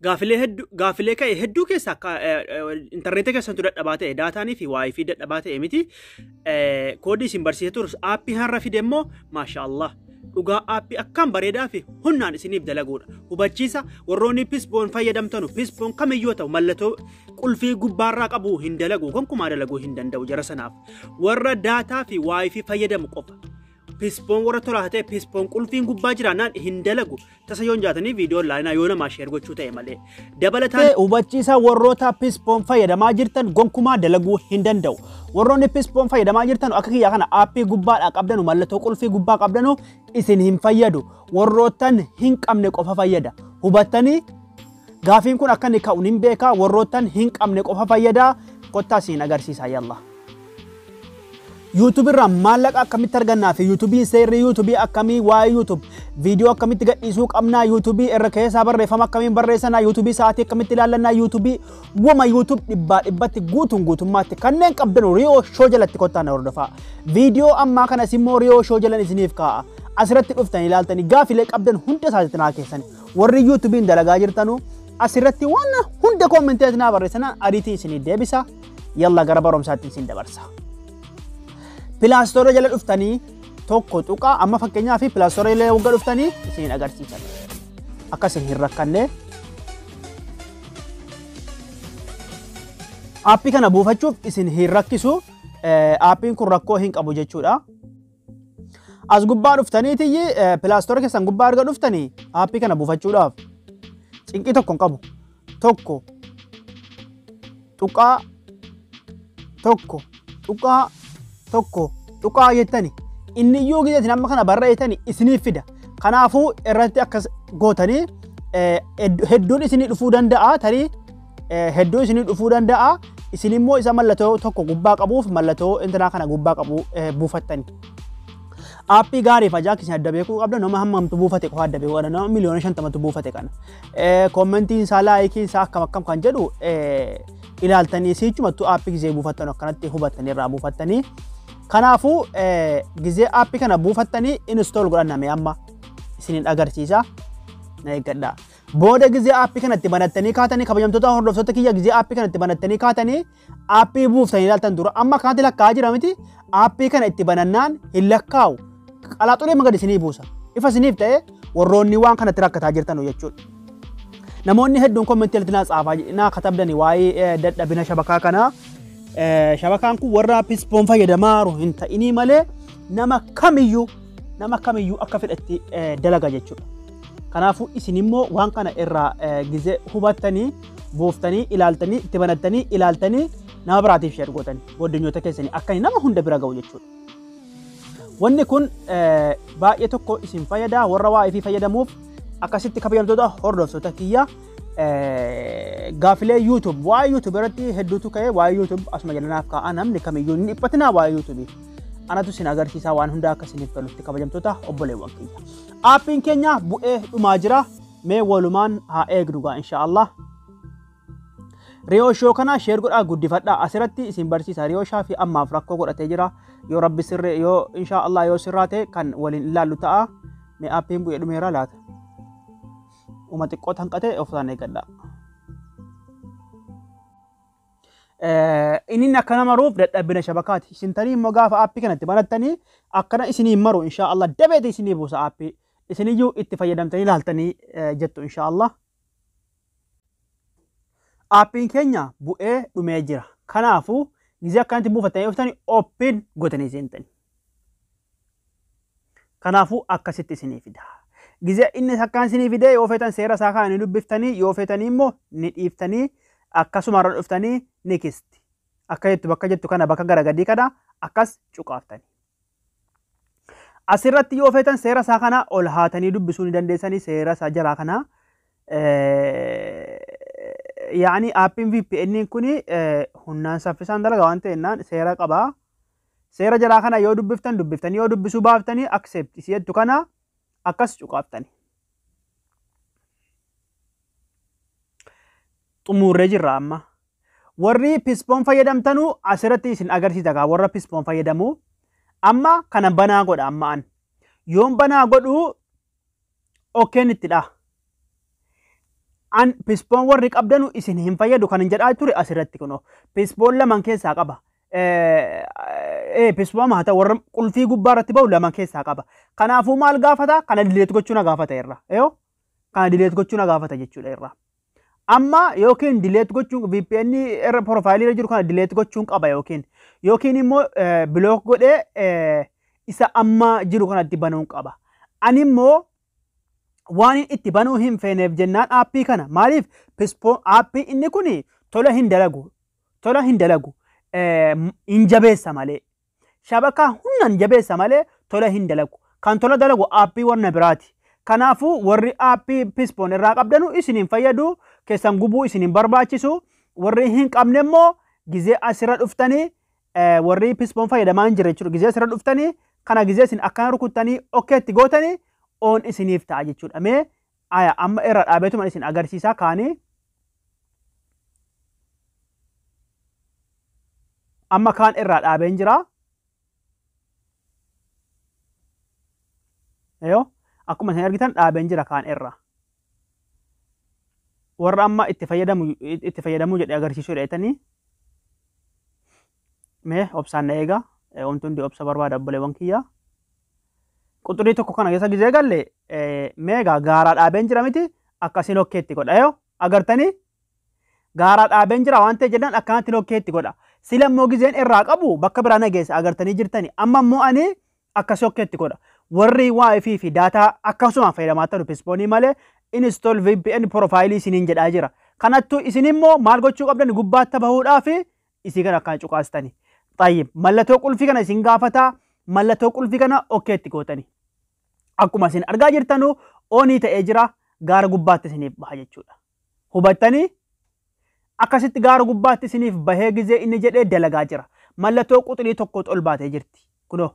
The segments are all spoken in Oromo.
gaafilee hedduu gaafilee ka'e hedduu keessa akka intarneetii keessantu dadhabaa ta'e daataanii fi waayii fi dadhabaa ta'e miti koodii isin barsiisee turus aappii har'a fide immoo maashaa Allah dhugaa aappii akkaan bareedaa fi humnaan isiniif dalaguudha hubachiisa warroonni pisboon fayyadamtanu pisboon kamiyyuu ta'u mallattoo qulfii gubbaarraa qabu hin dalagu gonkumaa dalaguu hin danda'u jara sanaaf warra daataa fi waayii fi fayyadamu qofa Pispoon warra tolaa ta'e pispoon qulfiin gubbaa jiraannaan hin dalagu. Tasa yoon jaatanii viidiyoon laalinaa yoo namaa sheer gochuu ta'e malee. Dabalataan Ta'e hubachiisaa warroota pispoon fayyadamaa jirtan gonkumaa dalaguu hin danda'u. Warroonni pispoon fayyadamaa jirtan akka kiyya kana aappii gubbaadhaa qabdanu mallattoo qulfii gubbaa qabdanu isin hin fayyadu. Warrootan hin qabne qofa fayyada. Hubattanii gaafiin kun akka inni ka'u hin beekaa warrootan hin qabne qofa fayyada. Kottaa siin agarsiisaa yallaa. YouTube irraa maallaqa akkamitti argannaa fi YouTube seerri YouTube akkamii waa'ee YouTube viidiyoo akkamitti gadhiisuu qabnaa YouTube irra keessaa barreeffama akkamiin barreessanaa YouTube sa'aatii akkamitti ilaallannaa YouTube wama YouTube dhibbaa dhibbatti guutuun guutummaatti kanneen qabdan Riyoo Shoo jalatti kottaa na hordofaa. Viidiyoo ammaa kanas immoo Riyoo Shoo jalan isiniif kaa'a. Asirratti dhuftan ilaaltanii gaafilee qabdan hunda isaatitti naa keessan warri YouTube'n dalagaa jirtanuu asirratti waan hunda koomenteetti naa barreessanaa ariitii isinii deebisa. yalla gara barumsaatti isin dabarsa. Pilaastoora jala dhuftanii tokko tuqaa amma fakkeenyaa fi pilaastoora jala wagga dhuftanii isin agarsiisan. Akka isin hin rakkanne. Aappii kana buufachuuf isin hin rakkisu. Aappiin kun rakkoo hin qabu jechuudha. As gubbaa dhuftaniitiyyi pilaastoora keessan gubbaa erga dhuftanii aappii kana buufachuudhaaf cinqii tokko hin qabu. Tokko tuqaa tokko tuqaa tokko tuqaa jettani inni iyyuu gideetiin amma kana barreessitani isiniif fida. Kanaafuu irratti akkas gootanii hedduun isinii dhufuu danda'a tarii hedduu isinii dhufuu danda'a. Isin immoo isa mallattoo tokko gubbaa qabuuf mallattoo intinaa kana gubbaa qabu buufattani. Aappii gaariif ajaa'ibaa isin adda beekuu qabda nama hammamtu buufate qofa adda beekuu qabda nama miliyoona shantamatu buufate kana. Koommentiin isaa laayikii isaa akkam akkam kan jedhu ilaaltanii siichumattuu aappii gizee buufattan akkanatti hubattanii irraa buufattanii. Kanaafuu gizee aappii kana buufattanii install godhanname amma isinin agarsiisa. Na eeggadhaa. Booda gizee aappii kana itti banattanii kaatanii kabajamtoota hordoftoota kiyya gizee aappii kana itti banattanii kaatanii aappii buuftanii ilaaltan dura amma akkanatti lakkaa'aa jira miti aappii kana itti banannaan hin lakkaa'u qalaaxulee magad isinii buusa ifa isiniif ta'e warroonni waan kanatti rakkataa jirtan jechuudha. Namoonni hedduun kommentii irratti naa tsaafaa naa katabdani waa'ee dadhabina shabakaa kanaa shabakaan kun warra pispoon fayyadamaaru hin ta'inii malee nama kamiyyuu nama kamiyyuu akka fedhatti dalaga jechuudha. Kanaafuu isin immoo waan kana irraa gizee hubattanii buuftanii ilaaltanii itti banattanii ilaaltanii nama biraatiif sheer gootanii booddanyoota keessanii akka nama hunda bira ga'u jechuudha. Wanni kun baay'ee tokko isin fayyada warra waa ifii fayyadamuuf akkasitti kabajamtoota hordoftoota kiyya gaafilee YouTube waa'ee YouTube irratti hedduutu ka'e waa'ee YouTube asuma jalanaaf kaa'a namni kamiyyuu ni dhiphatinaa waa'ee YouTube. Anatu isin agarsiisaa waan hundaa akka isiniif tolutti kabajamtoota obboleewwan kiyya. Aappiin keenya bu'ee dhumaa jira. Mee walumaan haa eegnu gaa insha Allah. Riyoo shoo kana sheer godhaa guddifadhaa asirratti isin barsiisa riyoo shaa fi ammaaf rakkoo godhatee jira yoo rabbi sirree yoo insha Allah yoo sirraa ta'e kan waliin ilaallu ta'a mee aappiin bu'ee dhumeera laata. Uma xiqqoo tanqatee ofisaan eeggadhaa. Inin akkana maruuf dadhabbina shabakaati. Isin tanii immoo gaafa aappii kana itti banattanii akkana isinii maru inshaa Allah dabeeti isinii buusa aappii. Isiniyyuu itti fayyadamtanii laaltanii jettu inshaa Allah. Aappiin keenya bu'ee dhumee jira. Kanaafuu gizee akkanatti buufattanii dhuftanii ooppiin gotanii seentanii. Kanaafuu akkasitti isinii fida. Gizee inni takkaan isinii fidee yoo feetan seera isaa kana ni dubbiftanii yoo feetanii immoo ni dhiiftanii akkasuma irra dhuftanii ni kisti. Akka jettu bakka jettu kana bakka gara gadii kana akkas cuqaaftanii. Asirratti yoo feetan seera isaa kana ol haatanii dubbisuu ni dandeessanii seera isaa jalaa kana yaa'anii aappiin VPN kun humnaan saffisaan dalaga waan ta'ennaan seera qabaa. Seera jalaa kana yoo dubbiftan dubbiftanii yoo dubbisuu baaftanii accept isi jettu kana akkas cuqaaftani. Xumuurree jirra amma. Warri pispoon fayyadamtanu asirratti isin agarsiisa kaa warra pispoon fayyadamu. Amma kana banaa godha amma an. Yoon banaa godhu okkeen itti dha. An pispoon warri qabdanu isin hin fayyadu kan hin jedhaa ture asirratti kunoo. Pispoon laman keessaa qaba. eebbisfama haa ta'u warra qulfii gubbaa irratti ba'u lama keessaa qaba. Kanaafuu maal gaafata? Kana dileet gochuu na gaafata irra. Yoo kana dileet gochuu na gaafata jechuudha irra. Amma yookiin dileet gochuun VPN irra piroofaayilii irra jiru kana dileet gochuun qaba yookiin yookiin immoo bilook godhee isa amma jiru kanatti banuun qaba. Ani immoo waan itti banuu hin feeneef jennaan aappii kana maaliif aappii inni kun tola hin dalagu Tola hin dalagu. Hin jabeessa malee. Shabakaa hundaan jabeessa malee tola hin dalagu. Kan tola dalagu aappii warna biraati. Kanaafuu warri aappii Pispoon irraa qabdanu isin hin fayyadu, keessan gubuu isin hin barbaachisu. Warri hin qabne immoo gizee asirra dhuftanii warri Pispoon fayyadamaa hin jirre jechuudha. Gizee asirra dhuftanii kana gizee isin akkana rukuttanii okkeetti gootanii oon isiniif ta'a jechuudha. Mee Aya amma irra dhaabeetuman isin agarsiisaa kaani amma kaan irraa dhaabeen jira. Yoo akkuma isin argitan dhaabeen jira kaan irra. Warra amma itti fayyadamu itti fayyadamuu jedhee agarsiisuu dheetanii mee obsaan na eegaa wanti hundi obsa barbaada obboleewwan kiyyaa. quxurii tokko kana keessa gizee galle meegaa gaaraa dhaabeen jira miti akkasii lokkeetti godha yoo agartanii gaaraa dhaabeen jira waan ta'e jennaan akkanatti lokkeetti godha sila immoo gizeen irraa qabu bakka biraa nageesse agartanii jirtani amma immoo ani akkasii lokkeetti godha warri wifi fi daataa akkasumaan fayyadamaa ta'u pispoonii malee install vpn profaayilii isiniin jedhaa jira kanattu isin immoo maal gochuu qabdan gubbaatti bahuudhaa fi isii kana akkaan cuqaastani. Xayyib mallatoo qulfii kana isin gaafata mallatoo qulfii kana okkee itti gootani. Akkuma isin argaa jirtanu oonii ta'ee jira gaara gubbaatti isiniif baha jechuudha. Hubattanii akkasitti gaara gubbaatti isiniif bahee gizee inni jedhee dalagaa jira. Mallatoo quxurii tokkootu ol baatee jirti. Kunoo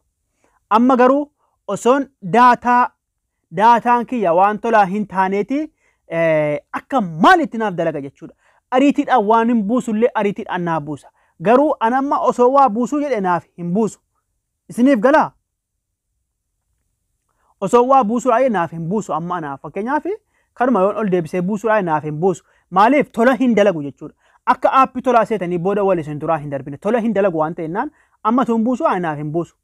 amma garuu osoon daataa daataan kiyya waan tolaa hin taaneeti akka maal itti naaf dalaga jechuudha. Ariitiidhaan waan hin buusu illee ariitiidhaan naaf buusa. Garuu an amma osoo waa buusuu jedhe naaf hin buusu. Isiniif galaa? Osoo waa buusuudhaa jedhe naaf hin buusu amma anaaf fakkeenyaaf kanuma yoon ol deebisee buusuudhaa naaf hin buusu. Maaliif tola hin dalagu jechuudha. Akka aappii tolaa seetanii booda wal isin duraa hin darbine tola hin dalagu waan ta'ennaan amma tuun buusu ani naaf hin buusu.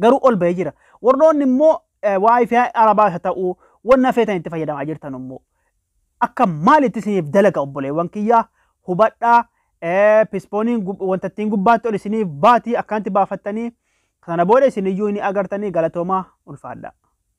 garuu ol ba'ee jira. Warroonni immoo wifi arabaa isa ta'u wanna feetan itti fayyadamaa jirtan immoo akka maalitti isiniif dalaga obboleewwan kiyyaa hubadhaa pispooniin wanta ittiin gubbaatti ol isiniif baatii akkanatti baafattanii kana booda isiniyyuu ni agartanii galatoomaa ulfaadhaa.